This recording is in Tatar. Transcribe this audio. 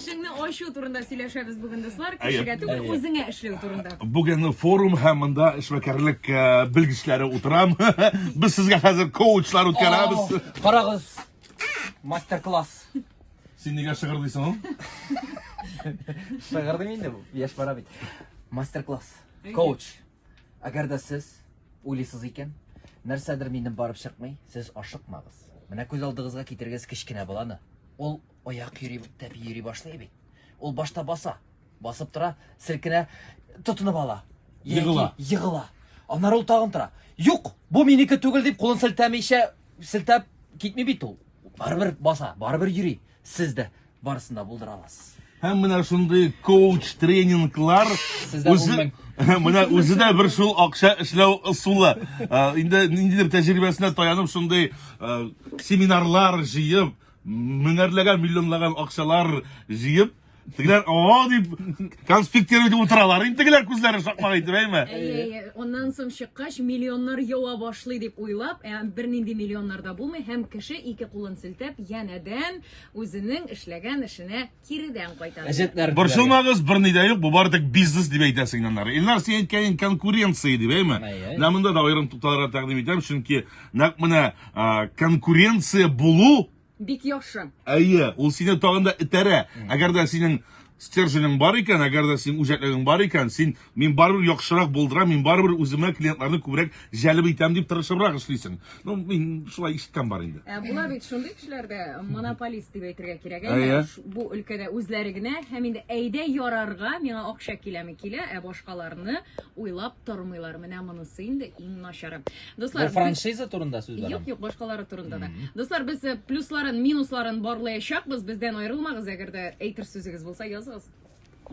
Эшеңне ачу турында сөйләшәбез бүген, дуслар. Кешегә түгел, үзеңә эшләү турында. Бүген форум һәм монда эшмәкәрлек э, белгечләре утырам. Без сезгә хәзер коучлар үткәрәбез. Карагыз. Мастер-класс. Син нигә шыгырдыйсың ул? Шыгырдым инде бу. Яшь бара бит. Мастер-класс. Коуч. Әгәр дә сез уйлыйсыз икән, нәрсәдер минем барып чыкмый, сез ашыкмагыз. Менә күз алдыгызга китерегез кечкенә баланы. Ул Аяк йөри тәпи йөри башлый бит. Ул башта баса, басып тора, селкенә, тотынып ала. Егыла. Егыла. Аннары ул тагын тора. Юк, бу минеке түгел дип кулын селтәмичә, селтәп китми бит ул. Барыбер баса, барыбер йөри. Сез дә барысында булдыра аласыз. Һәм менә шундый коуч тренинглар Сездә үзе менә үзе дә бер шул акча эшләү ысулы. Инде ниндидер тәҗрибәсенә таянып шундый семинарлар җыеп, Меңәрләгән, миллионлаган акчалар җыеп, тегеләр о дип конспектировать итеп утыралар. Инде тегеләр күзләре шакмак итеп, әйме? Әйе, әйе. Аннан соң чыккач, миллионнар ява башлый дип уйлап, ә бернинди миллионнар да булмый һәм кеше ике кулын селтәп, янәдән үзенең эшләгән эшенә киредән кайтарып. Борчылмагыз, берни дә юк, бу бары тик бизнес дип әйтә сигнаннар. Илнар, син әйткән конкуренция дип, әйме? Менә монда да аерым тукталырга тәкъдим итәм, чөнки нәкъ менә конкуренция булу бик яхшы. Әйе, ул сине тагын да этәрә. Әгәр дә синең стерженең бар икән, әгәр дә синең үҗәтлегең бар икән, син Мин барыбер яхшырак булдырам, мин барыбер үземә клиентларны күбрәк җәлеп итәм дип тырышыбрак эшлисең. Ну, мин шулай ишеткән бар инде. Ә була бит шундый кешеләр дә монополист дип әйтергә кирәк. Ә, Әйе. ш- Бу өлкәдә үзләре генә һәм инде әйдә ярарга миңа акча киләме килә, ә башкаларны уйлап тормыйлар. Менә монысы инде иң начары. Бу Дуслар, без- франшиза турында сүз бара. Юк, юк, башкалары турында да. Мгм. Дуслар, без э, плюсларын, минусларын барлаячакбыз. Бездән аерылмагыз, әгәр дә әйтер сүзегез булса, языгыз.